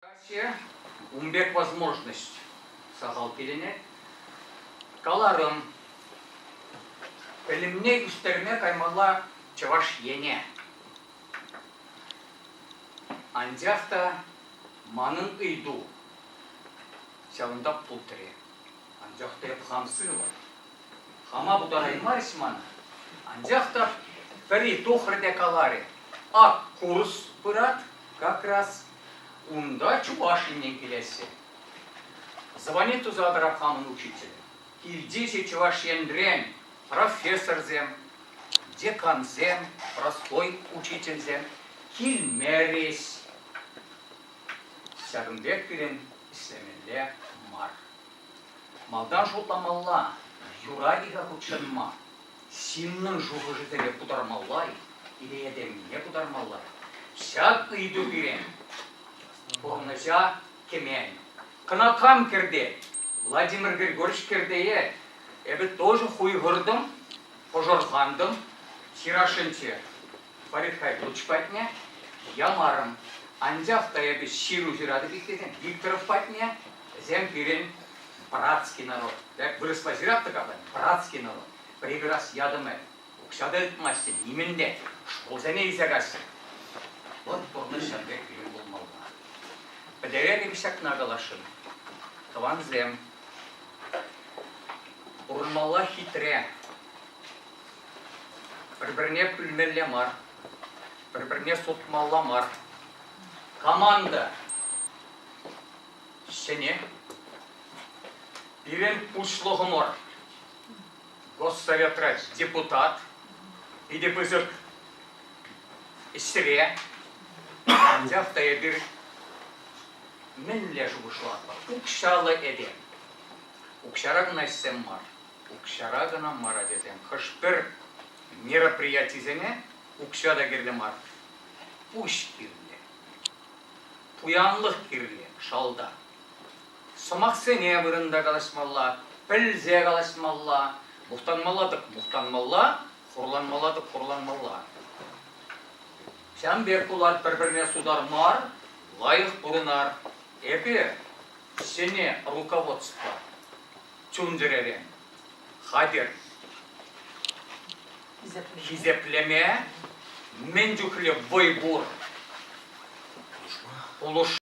Россия ун пек возможность сахал килӗнет. Каларӑм, пӗлӗмне ӳстерме каймалла Чӑваш Ене. Анчах та манӑн ыйту ҫавӑнта пултрӗ. Анчах та эп хам сывӑ. Хама пултараймарӗҫ мана. Анчах та пӗри тухрӗ те каларӗ, ак курс пырать как раз Унта Чуваш Еннен килесси. Звани туса тӑрать хамӑн учитель. Илтесе Чӑваш Енрен профессорсем, декансем, простой учительсем килмерӗҫ. Ҫакӑн пек пирӗн ӗҫлемелле мар. Малтан шутламалла, юрать-ха хутшӑнма. ҫыннӑн шухӑшӗсене путармалла-и, идея-темине путармалла-и? Ҫак ыйту пире пурнӑҫа кӗмен. Кӑна кам кӗрте? Владимир Григорьевич кӗртее эпӗ тоже хуйхӑртӑм, пӑшӑрхантӑм, ҫырашӑнче Фарид Хайдуллович патне ямарӑм. Анчах та эпӗ ҫыру ҫыратӑп иккен, Викторов патне, вӗсем пирӗн братский народ. Дӓк вырӑсла ҫыраттӑр-ха братский народ. Прекрас ядымы. Укҫа та тытмаҫҫӗ, нимӗн те. Шкулсене илсе каҫҫӗ. Вот пурнӑҫ ҫак пек пирӗн пулмалла. Пӗтеретӗп ҫакна каласшӑн. Тӑвансем, пурӑнмалла хитре. Пӗр-пӗрне пӳлмелле мар. Пӗр-пӗрне сутмалла мар. Команда Ҫӗнӗ. Пирӗн пуҫлӑхӑмӑр Госсоветра депутат. Питӗ пысӑк ӗҫре. Анчах та эпир мӗнле шухӑшлатпӑр? Укҫаллӑ этем. Укҫара кӑна ӗҫсем мар. Укҫара кӑна мар ачасем. Хӑш-пӗр мероприятисене укҫа та кирлӗ мар. Пуҫ кирлӗ. пуянлӑх кирлӗ шалта. Сӑмахсене вырӑнта калаҫмалла, пӗлсе калаҫмалла, мухтанмалла-тӑк мухтанмалла, хурланмалла-тӑк хурланмалла. Ҫавӑн пек пулать пӗр-пӗрне сутар мар, лайӑх пурӑнар. Эпир ҫӗнӗ руководство чун-чӗререн хатӗр. Хисеплеме мӗн чухлӗ вӑй пур. Пулӑш.